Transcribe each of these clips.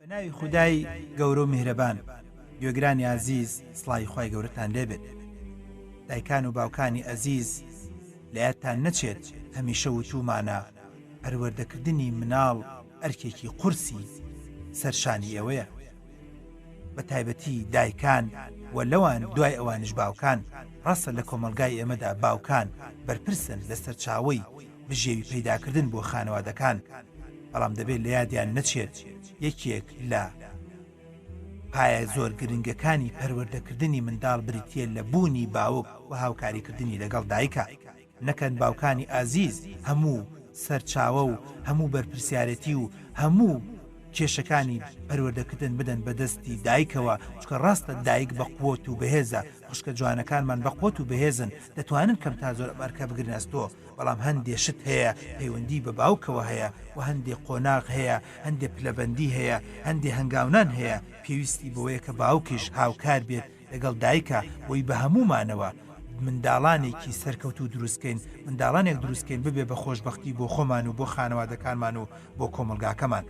بە ناوی خودای گەورە و میهرەبان گوێگرانی ئازیز سڵاوی خوای گەورەتان لێ بێت دایکان و باوکانی ئەزیز لە یادتان نەچێت هەمیشە وتومانە پەروەردەکردنی مناڵ ئەرکێکی قورسی سەرشانی ئێوەیە بە تایبەتی دایکان و لەوان دوای ئەوانش باوکان ڕاستە لە کۆمەلگای ئێمەدا باوکان بەرپرسن لە سەرچاوی بژێوی پەیداکردن بۆ خانەوادەکان بەڵام دەبێت لە یادیان نەچێت یەکێک لە پایە زۆر گرنگەکانی پەروەردەکردنی منداڵ بریتە لە بوونی باوک و هاوکاریکردنی لەگەڵ دایکە نەکەن باوکانی ئازیز هەموو سەرچاوە و هەموو بەرپرسیارەتی و هەموو کێشەکانی پەروەردەکردن بدەن بەدەستی دایکەوە چکە ڕاستە دایک بە قوت و بەهێزە خوشکە جوانەکانمان بە قوت و بەهێزن دەتوانن کەم تا زۆر ئەمەرکە بگرنەستۆ بەڵام هەندێ شت هەیە پەیوەندیی بە باوکەوە هەیە و هەندێ قۆناغ هەیە، هەندێ پلەبەندی هەیە، هەندێ هەنگاونان هەیە، پێویستی بەوەیە کە باوکیش هاوکار بێت لەگەڵ دایکا بۆی بە هەموومانەوە منداڵانێکی سەرکەوتوو دروست کەین، منداڵانێک دروست کەین ببێ بە خۆشبەختی بۆ خۆمان و بۆ خانەوادەکانمان و بۆ کۆمەڵگاکەمان.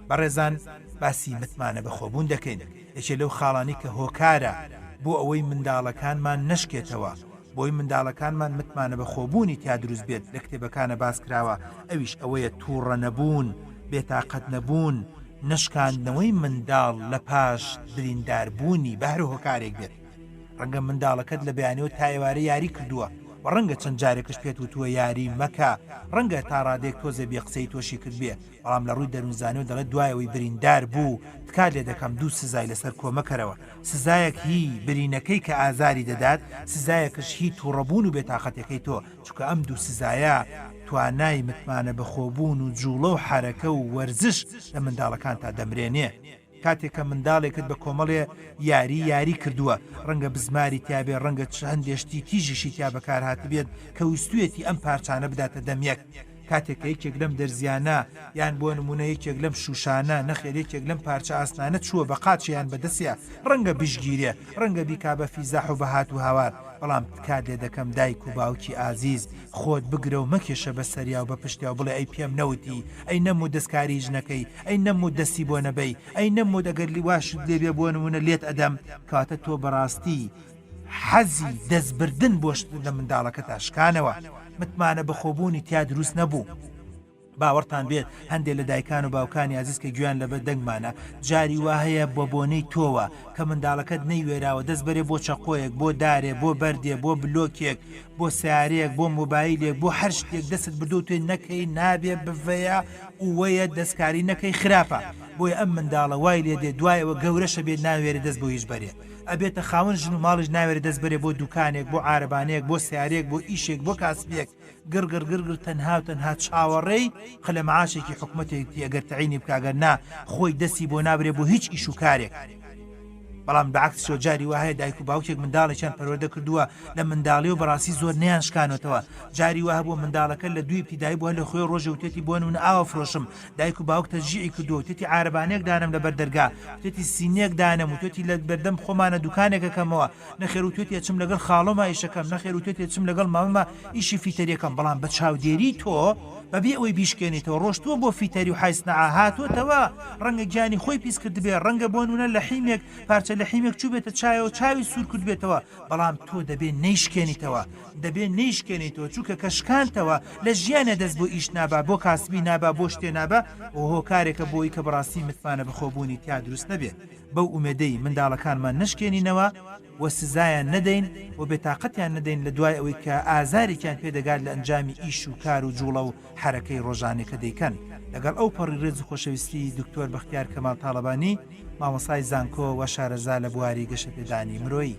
بەڕێزان باسی متمانە بەخۆبوون دەکەین، یەکێ لەو خاڵانەی کە هۆکارە بۆ ئەوەی منداڵەکانمان نەشکێتەوە، بۆی منداڵەکانمان متمانە بەخۆبوونی تیا دروست بێت لە کتێبەکانە باس کراوە ئەویش ئەوەیە توڕە نەبوون بێتاقەت نەبوون نەشکاندنەوەی منداڵ لە پاش بریندار بوونی بە هەر هۆکارێک بێت ڕەنگە منداڵەکەت لە بەیانیەوە تا ئێوارێ یاری کردووە و ڕەنگە چەند جارێکش پێت وتووە یاری مەکە ڕەنگە تا ڕادەیەک تۆزێ بێ قسەی تۆشی کردبێ بەڵام لە ڕووی دەروونزانیەوە دەڵێت دوای ئەوەی بریندار بوو تکات لێ دەکەم دوو سزای لەسەر کۆمە کەرەوە، سزایەک هی برینەکەی کە ئازاری دەدات، سزایەکش هی توڕە بوون و بێ تاقەتێکەی تۆ، چونکە ئەم دوو سزایە توانای متمانە بەخۆ بوون و جوڵە و حەرەکە و وەرزش لە منداڵەکانتا دەمرێنێ. کاتێک کە منداڵێکت بە کۆمەڵێ یاری یاری کردووە، ڕەنگە بزماری تیا بێ، ڕەنگە چ هەندێ شتی تیژیشی تیا بەکار هاتبێت کە ویستوویەتی ئەم پارچانە بداتە دەم یەک. کاتێک کە یەکێک لەم دەرزییانە، یان بۆ نموونە یەکێک لەم شووشانە، نەخێر یەکێک لەم پارچە ئاسنانە چووە بە قاچێ یان بە دەسێ، ڕەنگە بشگیرێ، ڕەنگە بیکا بە فیزاح و بە هات و هاوار، بەڵام تکات لێ دەکەم دایک و باوکی ئازیز، خۆت بگرە و مەکێشە بە سەریا و بە پشتیا و بڵێ ئەی پێم نەوتی، ئەی نەم و دەستکاریی ژنەکەی، ئەی نەموت دەستی بۆ نەبەی ئەی نەموت ئەگەر لیواشت لێ بێ بۆنمونە لێت ئەدەم کەواتە تۆ بەڕاستی حەزی دەست بردن بۆ شت لە منداڵەکەتا شکانەوە متمانە بەخۆبوونی تیا دروست نەبوو باوەڕتان بێت هەندێک لە دایکان و باوکانی ئازیز کە گویان لەبەر دەنگمانە جاری وا هەیە بە بۆنەی تۆوە کە منداڵەکەت نەیوێراوە دەست بەرێ بۆ چەقۆیەک بۆ دارێ بۆ بەردێ بۆ بلۆکێک بۆ سارەیەک بۆ مۆبایلێک بۆ هەر شتێک دەست بردو توێ نەکەی نابێ بڤەیە ئوەیە دەسکاری نەکەی خراپە بۆیە ئەم منداڵە وای لێ دێ دوای ئەوە گەورەشە بێ ناوێرێ دەست بۆ هیچ بەرێ ئەبێتە خاوەن ژن و ماڵیش ناوێرێ دەست بەرێ بۆ دوکانێک بۆ عارەبانەیەک بۆ سەیارەیەک بۆ ئیشێک بۆ کاسبیەک گڕگڕ گڕگڕ تەنها و تەنها چاوەڕێی خلە معاشێکی حکومەتێکتی ئەگەر تەعینی بکا گەر نا خۆی دەستی بۆ نابرێ بۆ هیچ ئیش و کارێک. بەڵام بەعەکسیەوە جاری وا هەیە دایک و باوکێک منداڵێکیان پەروەردە کردووە لە منداڵیەوە بەڕاستی زۆر نەیان شکانۆتەوە جاری وا هەبووە منداڵەکە لە دووی ابتیدایی بووە لە خوێ ڕۆژێ وتێتی بۆن ون ئاوە فرۆشم دایک و باوک تەشجیعی کردووە وتێتی عارەبانەیەک دانەم لەبەر دەرگا وتێتی سینیەک دانەم وتێتی لە بەردەم خۆمانە دوکانێک ئەکەمەوە نەخێر وتێتی ئەچم لەگەڵ خاڵۆما ئیشەکەم نەخێر وتێتی ئەچم لەگەڵ مامەما ئیشی فیتەریەکەم بەڵام بە چاودێری تۆ بەبێ ئەوەی بیشکێنیتەوە ڕۆشتووە بۆ فیتەری و حای سنەعا هاتۆتەوە ڕەنگە گیانی خۆی پیس کردبێ ڕەنگە بۆ نونە لەحیمێک پارچە لەحیمێک چووبێتە چایەوە چاوی سوور کردبێتەوە بەڵام تۆ دەبێ نەیشکێنیتەوە دەبێ نەیشکێنیتەوە چونکە کە شکانتەوە لە ژیانێ دەست بۆ ئیش نابا بۆ کاسبی نابا بۆ شتێ نابا ئەوە هۆکارێکە بۆی کە بەڕاستی متمانە بەخۆبوونی تیا دروست نەبێ بەو ئومێدەی منداڵەکانمان نەشکێنینەوە و سزایان نەدەین و بێتاقەتیان نەدەین لە دوای ئەوەی کە ئازارێکیان پێ دەگات لە ئەنجامی ئیش و کار و جوڵە و حەرەکەی ڕۆژانەی کە دەیکەن لەگەڵ ئەو پەڕی ڕێز و خۆشەویستی دکتۆر بەختیار کەمال تاڵەبانی مامۆستای زانکۆ و شارەزا لە بواری گەشەپێدانی مرۆیی.